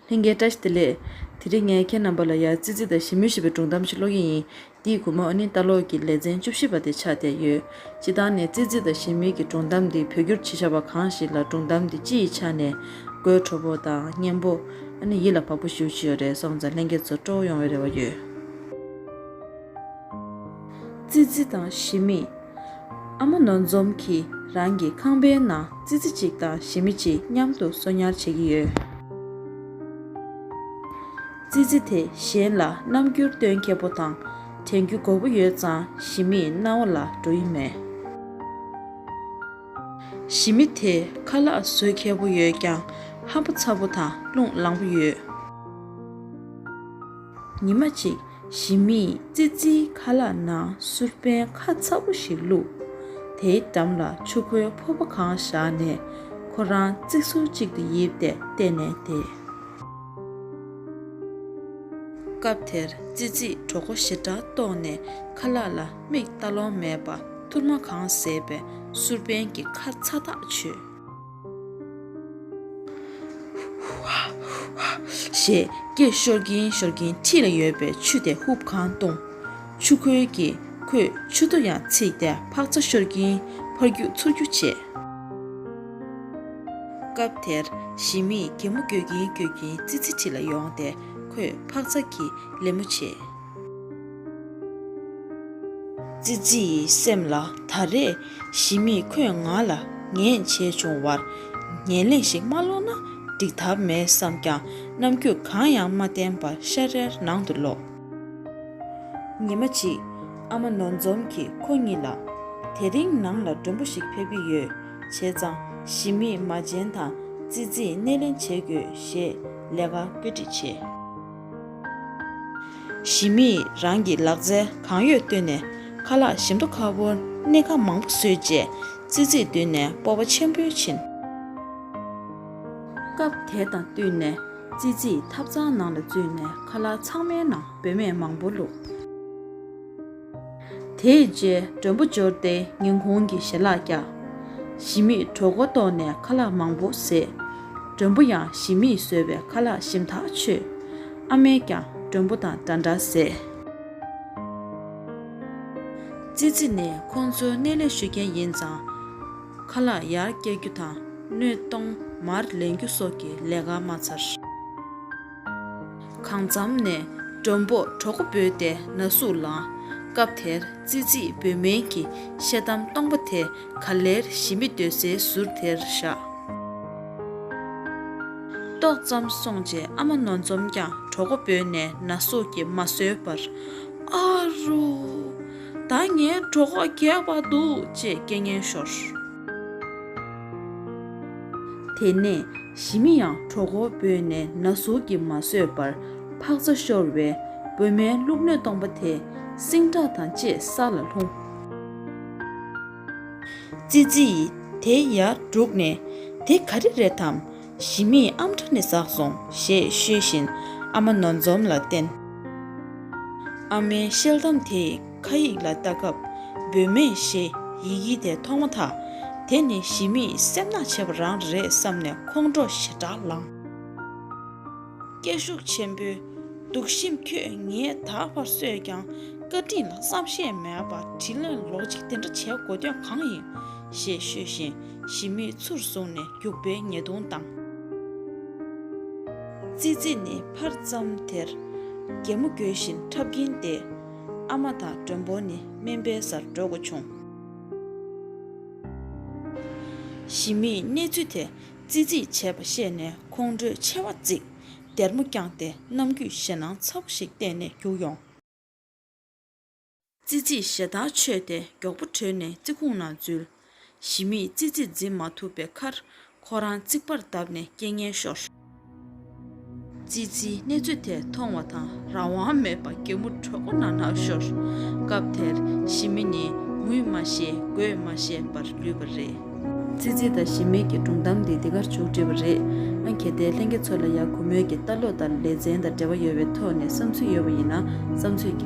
ལྷན་རྒྱས་བཀྲ་ཤིས་བདེ་ལེགས། དེ་རིང་ངས་ཁྱེད་རྣམ་པ་ལ་ཡར་ཙི་ཙི་དང་ཞི་མོལ་ཞེས་པའི་སྒྲུང་གཏམ་ཞིག་ཀློག་གི་ཡིན། འདིའི་གོ་མོ་ཨ་ནི་ལྟ་ཀློག་གི་ལེ་ཚན་བཅུ་བཞི་པ་དེ་ཆགས་བསྡད་ཡོད། སྤྱི་བཏང་ནས་ཙི་ཙི་དང་ཞི་མོལ་གྱི་སྒྲུང་གཏམ་འདི་བོད་བསྒྱུར་བྱེད་བྱ་བ་གང་ཞིག་ལ་སྒྲུང་གཏམ་འདི་སྤྱི་ཡི་ཆ་ནས་དགོད་བྲོ་བོ་དང་སྙན་པོ། ཨ་ནི་ཡིད་ལ་བབ་པོ་ཞིག་ཡོད་ཀྱི་ཡོད་རེད་སོང་ཙང་ལྷན་རྒྱས་ཚོ་སྤྲོ་བོ་ཡོང་བའི་རེ་བ་ཡོད། ཙི་ཙི་དང་གཞི་མེད། ཨ་མ་ནོར་འཛོམས་ཀྱིས་རང་གི་ཁང་པའི་ནང་ཙི་ཙི་གཅིག་དང་གཞི་མི་གཅིག་མཉམ་དུ་གསོ་ཉར་བྱེད་ཀྱི་ཡོད། ཙི་ཙི་དེ་གཞན་ལ་རྣམ་འགྱུར་སྟོན་མཁས་པོ་དང་དྲན་རྒྱུ་འགོར་པོ་ཡོད་ཙང་གཞི་མིའི་རྣ་བ་ལ་འགྲོ་ཡི་མེད། གཞི་མི་དེ་ཁ་ལག་བཟོད་མཁས་པོ་ཡོད་ཀྱང་ཧམ་པ་ཚ་པོ་དང་རླུང་ལངས་པོ་ཡོད། ཉི་མ་གཅིག་གཞིས་མིས་ཙི་ཙིའི་ཁ་ལག་ནང་སུར་པན་ཁ་ཚ་པོ་ཞིག་བླུགས། དེའི་འགྲམ་ལ་ཆུ་ཁོལ་ཕོར་པ་གང་བཞག་ནས་ཁོ་རང་རྩིག་ཟུར་གཅིག་ཏུ་ཡིབ་སྟེ་བལྟས་ནས་བསྡད། སྐབས་དེར་ཙི་ཙིས་གྲོགས་པོ་ཞེ་དྲག་རྟོགས་ནས་ཁ་ལག་ལ་མིག་བལྟ་ལོང་མེད་པར་ཐུར་མ་གང་བཟས་པས་སུར་པན་གྱི་ཁ་ཚ་ཐག་ཆོད། ཞེས་སྐད་ཤོར་གྱིན་ཤོར་གྱིན་འཁྲིས་ལ་ཡོད་པའི་ཆུ་དེ་ཧུབ་གང་བཏུངས། ཆུ་ཁོལ་གྱིས་ཁོས་ཆུ་རྡོ་ཡང་ཚིག་སྟེ་འཕག་འཚག་ཤོར་གྱིན་ཕར་རྒྱུག་ཚུར་རྒྱུག་བྱེད། སྐབས་དེར་ཞི་མིས་གད་མོ་བསྐྱོད་ཀྱིན་བསྐྱོད་ཀྱིན་ཙི་ཙི་འཁྲིས་ལ་ཡོང་སྟེ་ཁོས་འཕག་འཚག་གི་ལད་མོ་བྱེད། ཙི་ཙི་ཡི་སེམས་ལ་ད་རེས་གཞི་མེད་ཁོས་ང་ལ་ངན་བྱས་བྱུང་བར་ངན་ལེན་ཞིག་མ་སློག་ན་འགྲིག་ཐབས་མེད་བསམས་ཀྱང་རྣམ་དཔྱོད་གང་ཡང་མ་བསྟན་པར་ཤ་རལ་ནང་དུ་ལོག། ཉི་མ་གཅིག་ཨ་མ་ནོར་འཛོམས་ཀྱིས་ཁོ་གཉིས་ལ། དེ་རིང་ནང་ལ་མགྲོན་པོ་ཞིག་ཕེབས་ཀྱི་ཡོད། བྱས་ཙང་གཞི་མེད་མ་བྱན་དང་ཙི་ཙིས་སྣེ་ལེན་བྱེད་དགོས་ཞེས་ལས་ཀ་བཀོད་སྒྲིག་བྱས། ཞི་མིས་རང་གི་ལག་རྩལ་གང་ཡོད་བཏོན་ནས་ཁ་ལག་བཞི་མདོ་ཁ་བོར་སྣེ་ཁ་མང་པོ་བཟོས་རྗེས་ཙི་ཙིས་མདུན་ནས་སྤོབས་པ་ཆེན་པོས་ཕྱིན། སྐབས་དེ་དང་བསྟུན་ནས་ཙི་ཙིས་ཐབ་ཚང་ནང་ལ་འཛུལ་ནས་ཁ་ལག་ཚང་མའི་ནང་སྦོས་མེད་མང་པོ་བླུགས། དེའི་རྗེས་མགྲོན་པོ་འབྱོར་ཏེ་ཉིན་གུང་གི་ཞལ་ལག་བཀྱག། ཞི་མིས་གྲོགས་མགོ་བཏོགས་ནས་ཁ་ལག་མང་པོ་བཟས། མགྲོན་པོ་ཡང་ཞི་མིས་བཟོས་པའི་ཁ་ལག་ཞིམ་ཐག་ཆོད། ཨ་མས་ཀྱང་མགྲོན་པོ་དང་འདྲ་འདྲ་བཟས། ཙི་ཙི་ནི་ཁོང་ཚོའི་སྣེ་ལས་ཞུགས་མཁན་ཡིན་ཙང། ཁ་ལག་ཡར་བཀྱག་རྒྱུ་དང་སྣོད་སྟོང་མར་ལེན་རྒྱུ་སོགས་ཀྱི་ལས་ཀ་མ་ཚར། གང་འཚམས་ནས་མགྲོན་པོ་གྲོགས་པོ་འབོད་དེ་ན་ཟུག་ལངས། སྐབས་དེར་ཙི་ཙིས་འབོད་སྨན་གྱི་བཤད་གཏམ་སྟོང་པ་དེ་ག་ལེར་ཞི་མི་སྡོད་སའི་ཟུར་དེར་བཞག། ཏོག་ཙམ་སོང་རྗེས་ཨ་མ་ནོར་འཛོམས་ཀྱང་གྲོགས་པོ་འབོད་ནས་ན་ཟུག་གིས་མ་བཟོད་པར། ཨ་རོ། ད་ངའི་གྲོགས་པོ་གས་པ་འདུག་ཅེས་སྐད་ངན་ཤོར། དེ་ནས་ཞི་མི་ཡང་གྲོགས་མགོ་སྤོས་ནས་ན་ཟུག་གིས་མ་བཟོད་པར་འཕག་རྩ་ཤོར་བས་བུ་མའི་བླུགས་སྣོད་སྟོང་པ་དེ་སྲིང་ཁྲག་དང་བཅས་ས་ལ་ལྷུང། ཙི་ཙི་ཡིས་དེ་ཡར་བསྒྲུགས་ནས་དེ་ག་རེ་རེད་དམ། ཞི་མིས་ཨམ་ཕྲ་ནས་ཟགས་སོང་ཞེས་ཤོད་བཞིན་ཨ་མ་ནོར་འཛོམས་ལ་བསྟན། ཨ་མའི་ཤེལ་དམ་དེས། ཁ་ཡིག་ལ་ལྟ་སྐབས་སྦོས་མེད་ཞེས་ཡི་གེ་དེ་མཐོང་མ་ཐག་དེ་ནི་ཞི་མིའི་སེམས་ནག་བྱེད་པ་རང་རེད་བསམ་ནས་ཁོང་ཁྲོ་ཞེ་དྲག་ལངས། སྐད་ཤུགས་ཆེན་པོས་སྡུག་གཤིམ་ཁྱོད་ངས་ད་བར་གསོས་ཀྱང་བཀའ་དྲིན་ལ་བསམ་ཤེས་མེད་པར་དྲིན་ལན་ལོག་ཅིག་དེ་འདྲ་བྱེད་དགོས་དོན་གང་ཡིན། ཞེས་ཤོད་བཞིན་ཞི་མིའི་ཚུར་བཟུང་ནས་རྒྱུག་པའི་ཉེས་རྡུང་བཏང། ཙི་ཙི་ནི་ཕར་ཙམ་དེར་རྒྱལ་མོ་འགྱོད་བཞིན་འཁྲབ་ཀྱིན་བསྡད། ཨ་མ་དང་མགྲོན་པོ་ནི་སྨན་པའི་སར་འགྲོ་དགོས་བྱུང། ཞི་མིས་གནས་ཚུལ་དེ་རྩིས་རྩིས་བྱས་པ་ཤེས་ནས་ཁོང་ཁྲོའི་མཆེ་བ་གཙིགས། སྡེར་མོ་བརྐྱངས་ཏེ་ནམ་རྒྱུན་ཞེད་སྣང་ཚ་བོ་ཞིག་གཏན་ནས་བརྒྱུགས་ཡོང། རྩིས་རྩིས་ཞེ་ཐག་ཆོད་དེ་མགྱོགས་པོ་བྲོས་ནས་རྩིས་ཁུང་ནང་འཛུལ། གཞི་མེད་ཙི་ཙི་འཛིན་མ་ཐུབ་པའི་ཁར། ཁོ་རང་རྩིག་པར་བརྡབས་ནས་རྐྱེན་ངན་ཤོར། ཙི་ཙིའི་གནས་ཚུལ་དེ་མཐོང་བ་དང་རང་དབང་མེད་པར་གད་མོ་དྲོད་ཁོ་ན་ན་ཤོར། སྐབས་དེར་གཞི་མེད་ནི་ངུས་མ་ཤེས་དགོད་མ་ཤེས་པར་ལུས་པ་རེད། ཙི་ཙི་དང་གཞི་མེད་ཀྱི་སྒྲུང་གཏམ་འདི་འདི་གར་བྱུང་བྲིས་པ་རེད། ཨ་གེ་དེ་ལྷན་རྒྱས་ཚོ་ལ་ཡག་གུ་མོད་ཀྱི་ལྟ་ལོག་དང་ལེ་ཚན་དང་འབྲེལ་བ་ཡོད་པའི་ཐོག་ནས་བསམ་ཚུལ་ཡོད་པ་ཡིན་ན་བསམ་ཚུལ་རྒྱག།